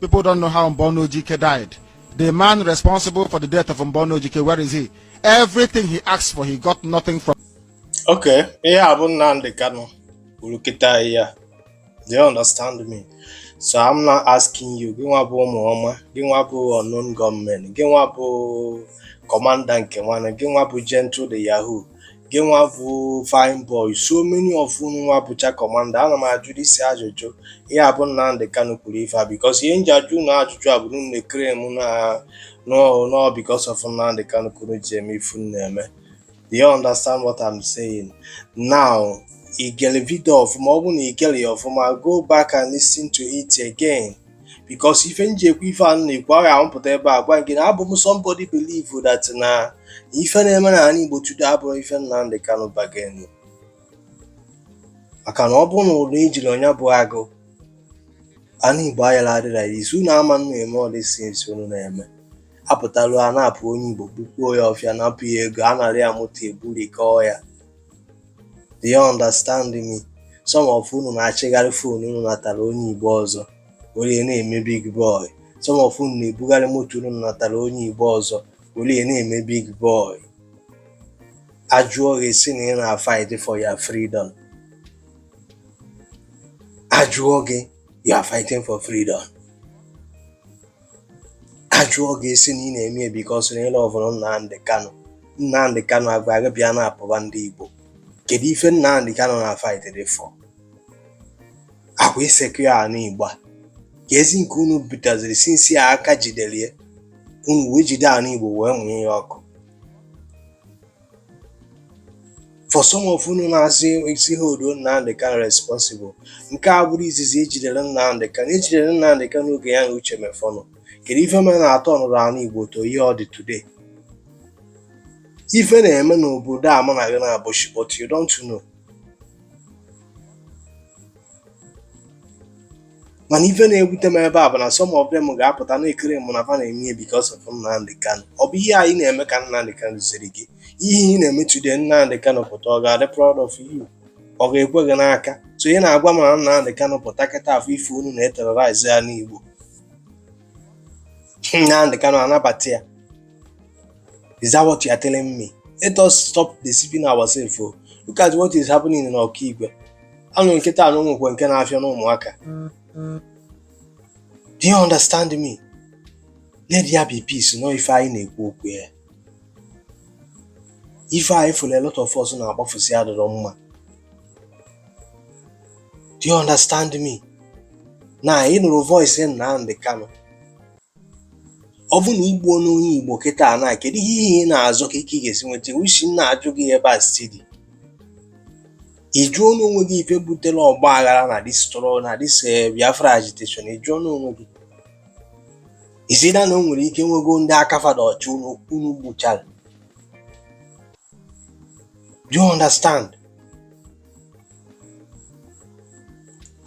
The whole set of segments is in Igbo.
People don't know how Mbonu Ojike died. The man responsible for the death of Mbonu Ojike, where is he? Everything he asked for, he got nothing from. Okay, ihe a bụ Nnamdi Kanu kwuru kịta ya. Do you understand me? So I'm not asking you, gị nwa bụ ụmụọma, gị nwa bụ unknown gunmen, gị nwa bụ kọmanda nke nwanne, gị nwa bụ gentle the yahoo, gị nwa bụ fine boy so many of unu nwa bụcha kọmanda ana m ajụ isi ajụjụ ya bụ Nnamdi Kanu kwuru ife a because ihe m ji ajụ unu ajụjụ a bụ na unu na-eclaim na na ọ because of Nnamdi Kanu ka unu ji eme ife unu na-eme do you understand what I'm saying now igere video ọfụma ọ bụ na igerọ ya ọfụma go back and listen to it again because ife m ji ekwu ife a na-ekwu ya wee pụta ebe a gwa gị na abụ m somebody believe that na ife na-eme na anị Igbo today abụrọ ife Nnamdi Kanu bargain maka na ọ bụrụ na ejirọ nya bụ agụ anị Igbo ayala adị like this unu ama na-eme all these things unu na-eme apụtalu a na-apụ onye Igbo bukwuo ya ọfịa napụ ya ego a nara ya moto eburikọọ ya Do you understand me? Some of unu na-achịgharị phone unu natara onye Igbo ọzọ were na-eme big boy. Some of unu na-ebugharị moto unu natara onye Igbo ọzọ were na-eme big boy. Ajụọ gị si na ị na-fight for your freedom. Ajụọ gị you are fighting for freedom. ajụọ gị ị sị na ị na-eme ya because na ị lovụrụ Nnamdị Kanụ Nnamdị Kanụ agwa gị bịa na-apụba ndị Igbo kedu ife Nnamdị Kanụ na-afight dị for ọ kwa ịsecure anị Igbo kezi nke unu butaziri since aka jideli ya unu wee jide anị Igbo wee mụnye ya ọkụ for some of unu na-asị isi holduo Nnamdị Kanu responsible nke a abụrọ izizi ejidere Nnamdị Kanu ejidere Nnamdị Kanu n'oge ya na Uche Mefor nọ kedu ife mere na a turnụrọ ana Igbo to ihe ọ dị today ife na-eme n'obodo a mụ na gị na-abụchi but you don't know mana ife na-ewute m ebe a bụ na some of them ga-apụta na-eclaim na fa na-eme ihe because of Nnamdi Kanu ọ bụ ihe a ị na-eme ka Nnamdi Kanu ziri gị ihe ị na-eme today Nnamdi Kanu pụta ọ ga-adị proud of you ọ ga-ekwe gị n'aka so ị na-agwa m na Nnamdi Kanu pụta kịta afụ ife unu na-eterrorize anị Igbo Nnamdi Kanu anabata ya Is that what you are telling me? Let us stop deceiving ourselves. Oh. Look at what is happening in Okigwe. Anụ nkịta anụ nwekwa nke na-afịa n'ụmụaka. Do you understand me? Let there be peace, nọ ife anyị na-ekwu okwu ya. Ife anyị fụrụ a lot of us na-akpafusi adịrọ mma. Do you understand me? Na ị nụrụ voice Nnamdi Kanu ọ bụ na i gbuo n'onye Igbo kịta na kedu ihe ị na-azọ ka ike ị ga-esi nweta isi m na-ajụ gị ebe a si dị ị jụọ n'onwe gị ife butere ọgba aghara na this stru- na this eh, Biafra agitation ị jụọ n'onwe gị it's either na o nwere ike nwego ndị aka fa dị ọcha unu gbuchara do you understand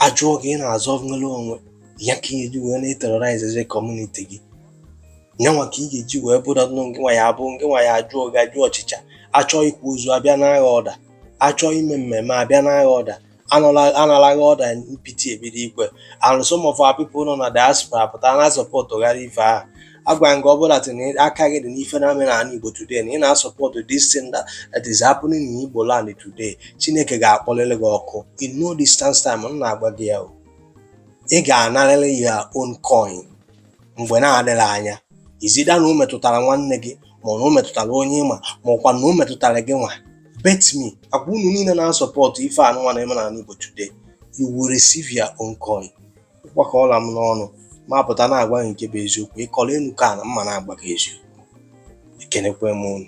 ajụọ gị ị na-azọ nnwere onwe ya ka ị ga-eji wee na-eterrorizezi community gị nyanwa ka ị ga-eji wee bụrụ nụ nke nwa ya abụ nke nwa ya ajụọ gị ajụ ọchịcha achọọ ịkwa ozu abịa naa gị order achọọ ime mmemme abịa naa gị order anala- analaghị order mpiti ebido ikwe and some of our people nọ na diaspora pụta na-asupport gara ife ahụ agwa nke ọ bụla tinye aka gị dị n'ife na-eme n'ala Igbo today na ị na-asupport this thing that, that is happening in Igbo land today Chineke ga-akpọlịlị gị ọkụ in no distance time m na-agwa gị ya ị ga-anarịrị your own coin mgbe na-adịghị anya it's either na o metụtara nwanne gị ma na o metụtara onye ị ma ma ọkwa na o metụtara gị nwa bet me agwa unu niile na-asupport ife anụnwa na-eme n'ala Igbo today you will receive your own coin ịkwakọọla m n'ọnụ ma pụta na-agwa gị nke bụ eziokwu ị kọrọ ọnụ kọọ na mụwa na-agwa gị eziokwu ekenekwe m unu